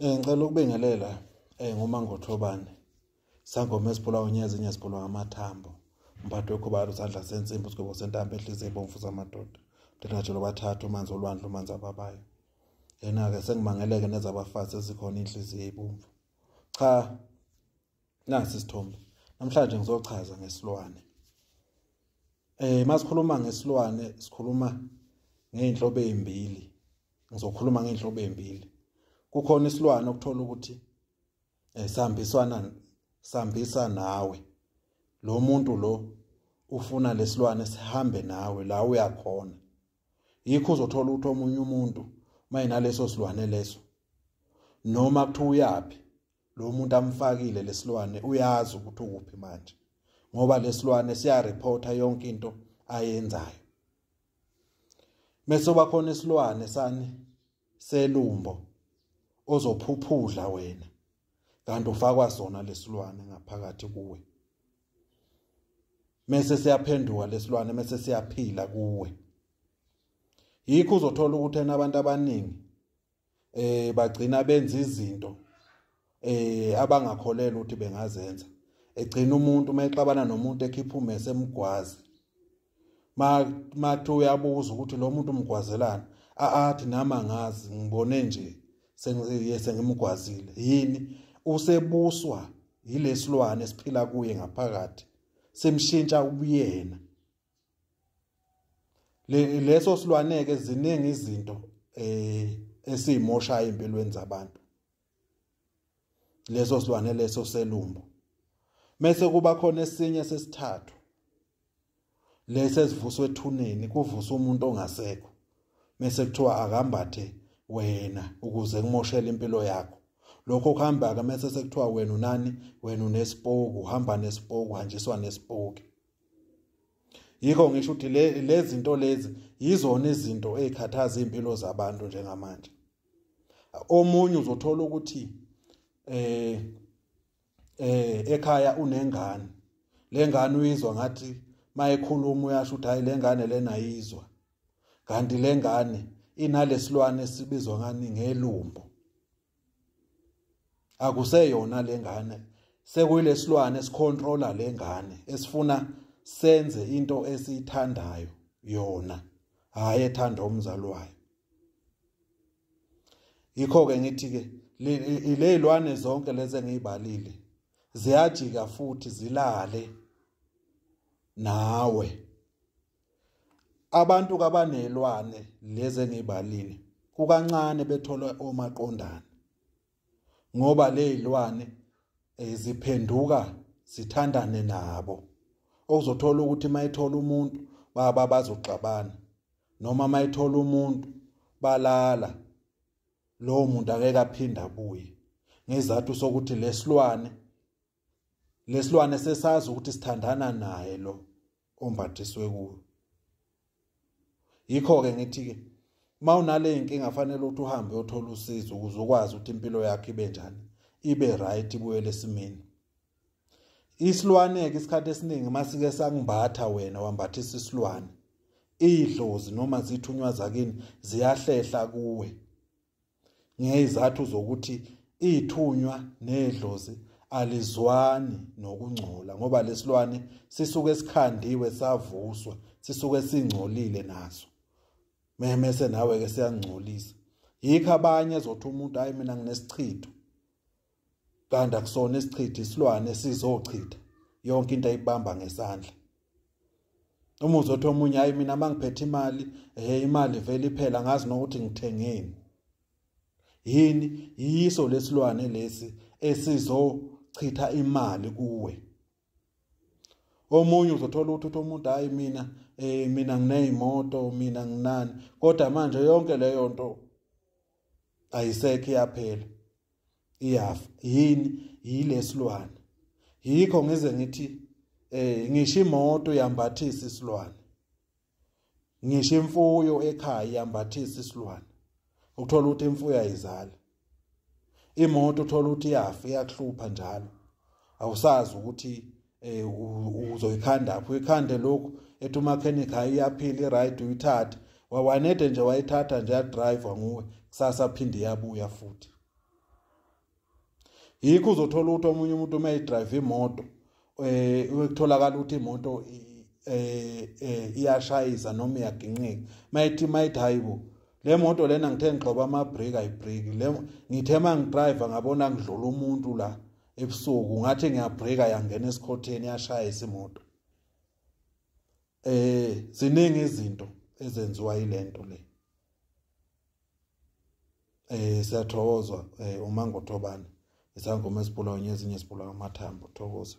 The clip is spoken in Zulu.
Eh ngicela ukubingelela eh nguMangothobane. Sangoma esibulawa unyezi inye sibulawa ngamathambo. Umphathi wekhubalo sandla sensimbi usigwebo sentambo ehlize ibomvu zamadoda. Mdelajelo bathathu umanzi olwandle umanzi ababayo. Yena ke sengimangeleke nezabafazi ezikhona inhliziyo ibomvu. Cha nasi isithombe namhlanje ngizochaza ngesilwane eh masikhuluma ngesilwane sikhuluma ngeinhlobo ezimbili ngizokhuluma ngeinhlobo ezimbili kukhona isilwane okuthola ukuthi eh sambiswana sambisa nawe lo muntu lo ufuna lesilwane sihambe nawe la uyakhona yikho uzothola ukuthi omunye umuntu mayinaleso silwane leso noma kuthiwa uyaphi lo muntu amfakile lesilwane uyazi ukuthi ukuphi manje ngoba lesilwane siya reporta yonke into ayenzayo mese bakhona isilwane sani selumbo ozophuphudla wena kanti ufakwa sona lesilwane ngaphakathi kuwe mese siyaphenduka lesilwane mese siyaphila kuwe yikho uzothola ukuthi abantu abaningi eh bagcina benza izinto eh abangakholelwa ukuthi bengazenza egcina umuntu uma exabana nomuntu ekhipha umese emgwazi mathu uyabuza ukuthi lo muntu umgwazelana athi nami angazi ngibone nje sengimgwazile yini usebuswa yilesilwane esiphila kuye ngaphakathi simshintsha ubuyena le leso silwaneke ziningi izinto eh esizimoshayo empilweni zabantu leso silwane leso selumbo mese kuba khona esinye sesithathu lesi esivuswe ethuneni kuvusa umuntu ongasekho mese kuthiwa akambathe wena ukuze kumoshele impilo yakho lokho kuhamba ke mese sekuthiwa wena unani wena unesipoku uhamba nesipoku hanjiswa nesipoki yikho ngisho ukuthi lezi zinto lezi yizona izinto ezikhathaza impilo zabantu njengamanje omunye uzothola ukuthi eh eh ekhaya unengane lengane uyizwa ngathi mayekhuluma uyasho ukuthi hayi lengane lena yizwa kanti lengane inalesilwane sibizwa ngani ngelumbo akuseyona lengane sekuyilesilwane sicontrola lengane esifuna senze into esiyithandayo yona hayi ethanda umzali wayo yikho ke ngithi ke lezilwane zonke lezi engizibalile ziyajika futhi zilale nawe abantu kabanelwane lezi engibalile kukancane bethola omaqondana ngoba lezilwane eh, ziphenduka zithandane nabo okuzothola ukuthi mayithola umuntu baba bazoxabana noma mayithola umuntu balala lowo muntu akeke aphinde abuye ngezathu sokuthi lesilwane lesilwane sesazi ukuthi sithandana naye lo ombathiswe kuwo yikho ke ngithi ke mawunale inkinga fanele ukuthi uhambe uyothola usizo ukuze ukwazi ukuthi impilo yakhe ibe njani ibe right ibuyele esimeni isilwane ke isikhathi esiningi masike sangimbatha wena wambathisa isilwane idlozi noma zithunywa zakini ziyahlehla kuwe ngezathu zokuthi ithunywa nedlozi alizwani nokungcola ngoba lesilwane sisuke sikhandiwe savuswa sisuke singcolile naso memese nawe ke siyangcolisa yikho abanye ezothi umuntu hayi mina nginesichitho kanti akusona isichitha isilwane sizochitha yonke into ayibamba ngesandla uma uzothi omunye hayi mina mangiphethe imali hey imali vele iphela ngazi nokuthi ngithengeni yini yiso lesilwane lesi esizochitha imali kuwe omunye uzothola ukuthi uthi umuntu hayi mina eh mina ngineyimoto mina nginani kodwa manje yonke leyo nto ayisekho iyaphela iyafa yini yilesilwane yikho ngize ngithi eh ngisho imoto yambathisa isilwane ngisho imfuyo ekhaya yambathisa isilwane ukuthola ukuthi imfuyo ayizali imoto uthola ukuthi iyafa iyakuhlupha njalo awusazi ukuthi eh uzoyikhanda apho ikhande lokhu ethi umakhenik hayi iyaphila i-right uyithathe wawanede nje wayithatha nje yadriva nguwe kusasa phinde iyabuya futhi yikho uzothola ukuthi omunye umuntu uma idrive imoto um eh, kutholakala ukuthi imoto um eh, eh, iyashayisa noma iyaginqika uma ithi uma ithi hayi bo le moto lena ngithe ngigxoba amabreki ayibreki le ngithe uma ngidrive ngabona ngidlula umuntu la ebusuku ngathi ngiyabreaka yangena esikhotheni yashaya isimoto eh ziningi izinto ezenziwa ilento le eh siyathokozwa eh, uma ngothobane isangoma esibulawa nyezinye esibulawa amathambo thokoza